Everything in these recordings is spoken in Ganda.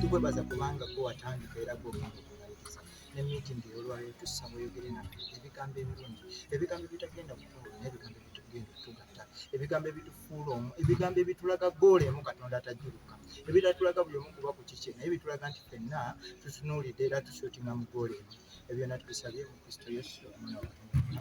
tukwebaza kubanga gwe watandika era gwokumaliriza ne meeting eyolwaliro tussa muyogere naffe ebigambo ebirungi ebigambo ebitagenda kutuula n'ebigambo ebitugenda okutugatta ebigambo ebitufuula omu ebigambo ebitulaga goola emu katonda atajuluka ebitatulaga buli omu kuba ku kikye naye bitulaga nti fenna tutunuulidde era tusuutinga mu goola emu ebyo natubisabye mu kristo yesu omwana wa katonda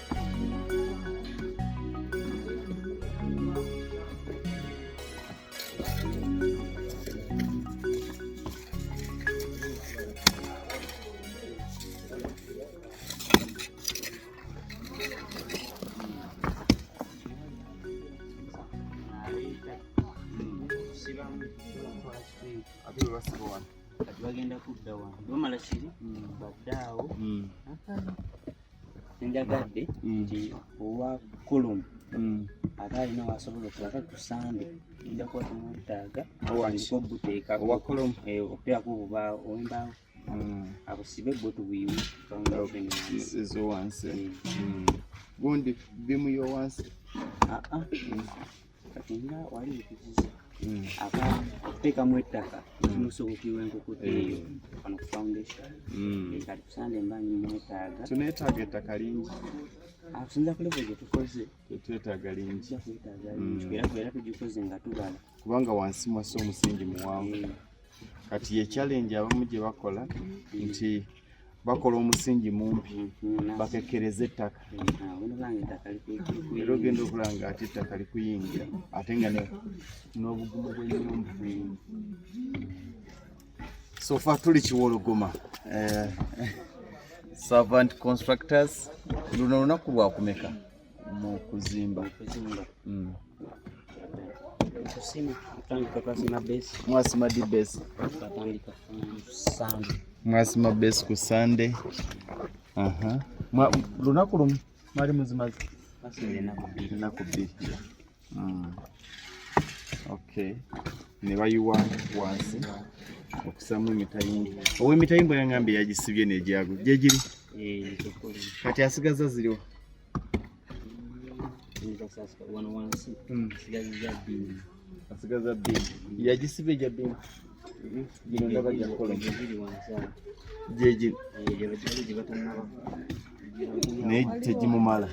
kati bagenda kudda wano bamala kiri hmm. baddaawo hmm. Njagadde mm. nti owa kulumu mm. aba alina wasobola okulaga ku sande nja kuba tumwetaaga obuteeka owakulum eh, okuteerako obubaawo owembaawo mm. abusibe bwe tubuyiwe ezowansi gundi bimuyo wansi kati nga wali nkuziza hmm. aba okuteekamu ettaka kimusobokirwa hmm. enkukuta hmm. eyo wano ku foundation kati kusande mba nimwetaaga tuneetaaga ettaka lingi akusinza ah, ku levo gyetukoze tetwetaaga lingi era kubeera tugikoze nga tubala kubanga wansi mwasi omusingi muwanvu kati ye challenge abamu gye bakola nti bakola omusingi mumpi mm-hmm. bakekkereza ettaka mm-hmm. era ogenda okulaba nga ate ettaka likuyingira ate nga n'obugumu bw'enyumba sofa tuli kiwologoma eh, servant constructors luno lunaku lwakumeka mu kuzimba mm. mwasima di base mwasima base ku sande lunaku lumu mwali muzimazi enaku bbiri mm. okay ne bayiwa wansi okusamu emitayimbo owa emitayimbo yangambye yagisibye negyago gyegiri eh, kati asigaza ziriwo asigaza bbiri yagisiba egya bbiri gino ndaba gyakola gyegino naye tegimumala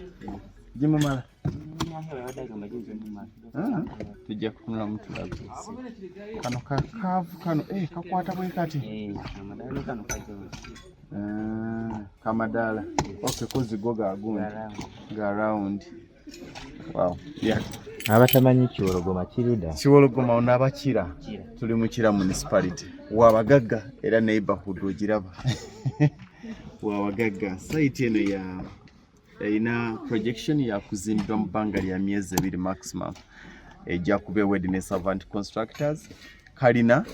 gimumala tujja kutunula mutulago kano kakaavu kano eh, kakwata bwe kati eh, ah, kamadaala oke kozigo gagundi ga rawundi abatamanyi kiwologoma kiruda kiwologoma ono abakira tuli mukira municipality wabagagga era neighborhood ogiraba wabagagga sayiti eno ya erina projection yakuzimbibwa mu bbanga lya myezi ebiri maximum ejja kuba ewedi ne servant constructors kalina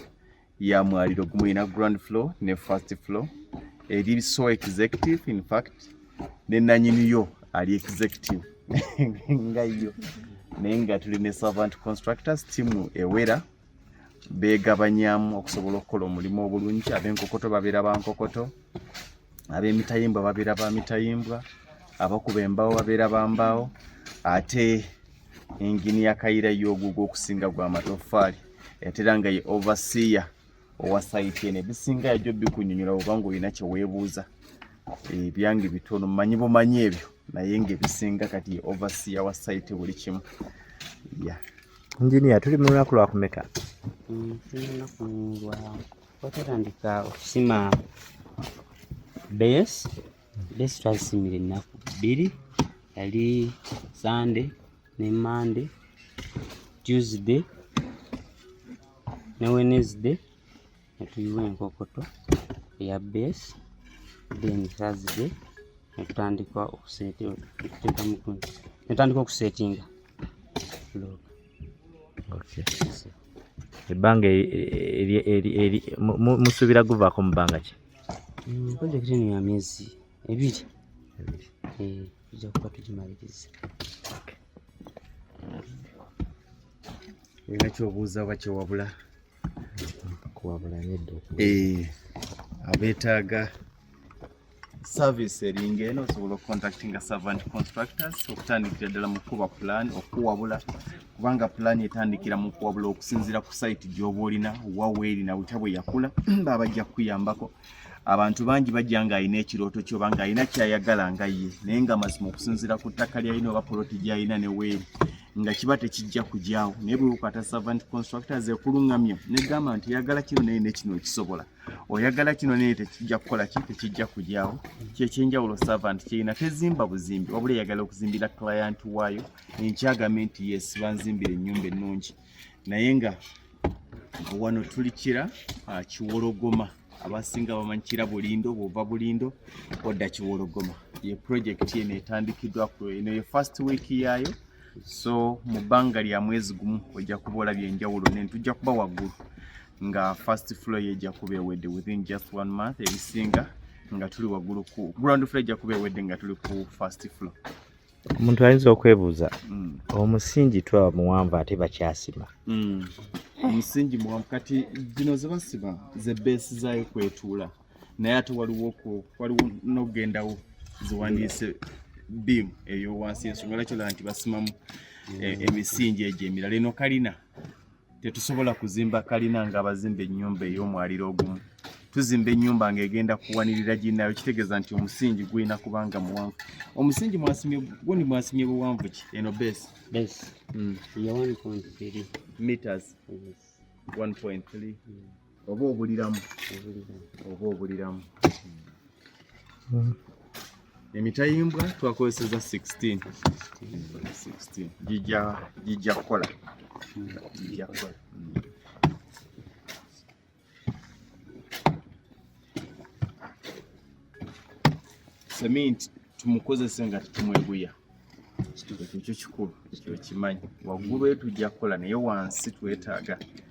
ya mwaliro gumu erina ground floor ne first floor eri so executive in fact ne nanyini yo ali executive nga yo naye nga tuli ne servant constructors timu ewera begabanyamu okusobola okukola omulimu obulungi abenkokoto babeera bankokoto abemitayimbwa babeera bamitayimbwa abakuba embaawo babeera bambaawo ate engini ya kayira yoguga okusinga gwa matoffaali etera nga ye overseer owa sayiti eno ebisinga yajo bikunyonyola obanga olina kyewebuuza ebyange bitono manyi bumanyi ebyo naye nga ebisinga kati ye overseer wa sayiti buli kimu yeah. Engineer, tuli mu lunaku lwa kumeka? Mm, tuli mu lunaku lwa twatandika okusima base base twazisimira ennaku bbiri yali Sunday ne Monday Tuesday ne Wednesday netuyiwa enkokoto eya base then thursday netutandika netandika okusetinga ebbanga musuubira guvaako mu bbanga ki mm, projekiti eno ya myezi ebiri eh, tujja kuba tugimaliriza olina kyobuuza oba kyewabula Eh, abeetaaga service eringa eno osobola okucontactinga servant constructors okutandikira ddala mu kukuba pulaani okuwabula kubanga pulaani etandikira mu kuwabula okusinziira ku sayiti gy'oba olina waweeri na butya bwe yakula baba bajja kukuyambako abantu bangi bajja ng'alina ekirooto kyoba ng'alina kyayagala nga ye naye nga mazima okusinziira ku ttaka lyalina oba poloti gyalina ne weeri nga kiba tekijja kugyawo naye bwekwata servant constructors ekuluŋŋamya negamba nti oyagala kino naye nekino ekisobola oyagala kino naye tekijja kukola ki tekijja kugyawo kyekyenjawulo servant kyerina tezimba buzimbi wabula eyagala okuzimbira client waayo enkyagambe nti yes banzimbira ennyumba ennungi naye nga wano tuli kira ah, kiwologoma abasinga bamanyi kira bulindo bwova bulindo odda kiwologoma ye projekiti eno etandikiddwa ku eno ye first week yaayo so mu bbanga lya mwezi gumu ojja kuba olabye enjawulo ne tujja kuba waggulu nga first floor ye ejja kuba ewedde within just one month ebisinga nga tuli waggulu ku ground floor ejja kuba ewedde nga tuli ku first floor omuntu ayinza okwebuuza mm. omusingi twaba muwanvu ate bakyasima mm. omusingi muwanvu kati zino zebasiba zebeesi zayo kwetuula naye ate waliwo waliwo nokugendawo ziwandiise biimu eyowansi ensonga lakyola nti basimamu e, emisingi egyo emirala eno kalina Tetusobola kuzimba kalina nga abazimba ennyumba ey'omwaliro ogumu. Tuzimba ennyumba ng'egenda kuwanirira ginnayo kitegeeza nti omusingi gulina kuba nga muwanvu. Omusingi mwasimye gundi mwasimye buwanvu ki eno base? Base. Mm. Ya 1.3 meters. Yes. 1.3. Mm. oba obuliramu oba obuliramu emitayimbwa twakozeseza 16 gijja kukola seminti tumukozese nga tetumweguya ekyo kikulu kyokimanyi waggulu etujja kukola naye wansi twetaaga